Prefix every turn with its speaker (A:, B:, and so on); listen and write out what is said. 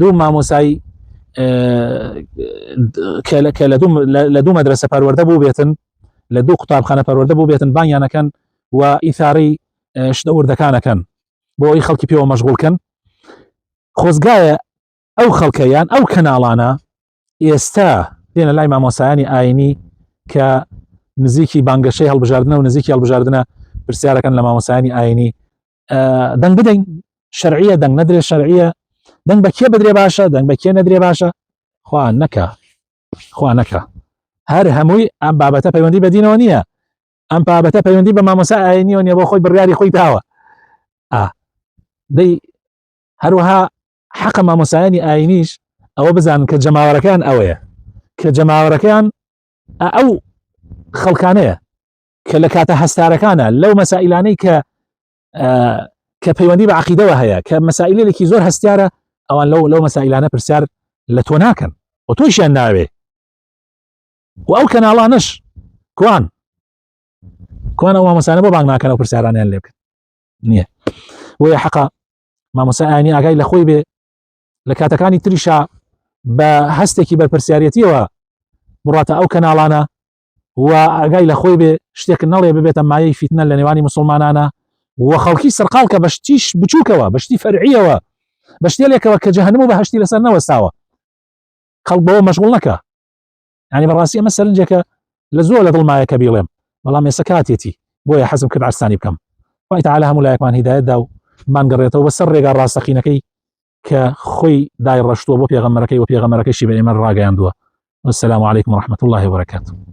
A: دوو مامۆسای کە لە دوو مەدرسە پەروەەردە بوو بێتن لە دوو قوتابخانە پەروەەردە بوو بێتن بانیانەکەن و ئیثاری شتە وردەکانەکەن بۆ ئەوی خەڵکی پێوە مەشغولکەن خۆزگایە ئەو خەڵکەیان ئەو کەناڵانە ئێستا دێنە لای مامۆسایانی ئاینی کە نزیکی بانگەشەی هەڵبژاردنە و نزیکی هەڵبژاردنە پرسیارەکەن لە مامۆسایانی ئاینی دەنگ بدەین شەرعیە دەنگ نەدرێ شەرعیە دەنگ بە کێ بدرێ باشە دەنگ بە کێ نەدرێ باشە خوا نەکە خوا نەکە هەر هەمووی ئەم بابەتە پەیوەندی بەدینەوە نییە ئەم بابەتە پەیوەندی بە مامۆسا ئاینیەوە نیە بۆ خۆی بڕیاری خۆی داوە دەی هەروەها حەقە مامۆسایانی ئاینیش ئەوە بزانن کە جەماوەەکان ئەوەیە کە جەماوەەکان ئەو خەڵکانەیە کە لە کاتە هەستارەکانە لەو مەسائلانەی کە کە پەیوەندی بە عقیدەوە هەیە کە مەسائلێکی زۆر هەستیارە ئەوان لەو لەو مەسائلانە پرسیار لە تۆ ناکەن و تۆشیان ناوێ و ئەو کەناڵانش کوان کوان ئەو مامەسانە بۆ بانگ ناکەن و پرسیارانیان لێ بکەن نییە وەیە حەقا مامۆسایانی ئاگای لە خۆی بێ لە کاتەکانی تریشا بە هەستێکی بەرپرسیارەتیەوە بڕاتە ئەو کەناڵانە و ئاگای لە خۆی بێ شتێک نەڵێ ببێتە مایەی فیتنە لە نێوانی مسلمانانە و خەڵکی سەرقال کە بەشتیش بچووکەوە بەشتی فەرعیەوە بە شتێلێکەوە کە جەهنم و بەهشتی لەسەر نەوەستاوە خەڵک بەوە مەشغول نەکە ینی بەڕاستی ئەمە سەرنجێکە لە زۆر لە دڵمایە کە بیڵێم بەڵام ێسە کاتێتی بۆیە حەزم کرد ئارسانی بکەم وای تعالی هەموو لایەکمان هیدایەتدا و مانگەڕێتەوە بە سەر ڕێگا ڕاستەقینەکەی کە خۆی دای ڕشتووە بۆ پێغەمەرەکەی و پێغەمەرەکەشی بە ئێمە ڕاگەیاندووە والسلام عليكم ورحمة الله وبركاته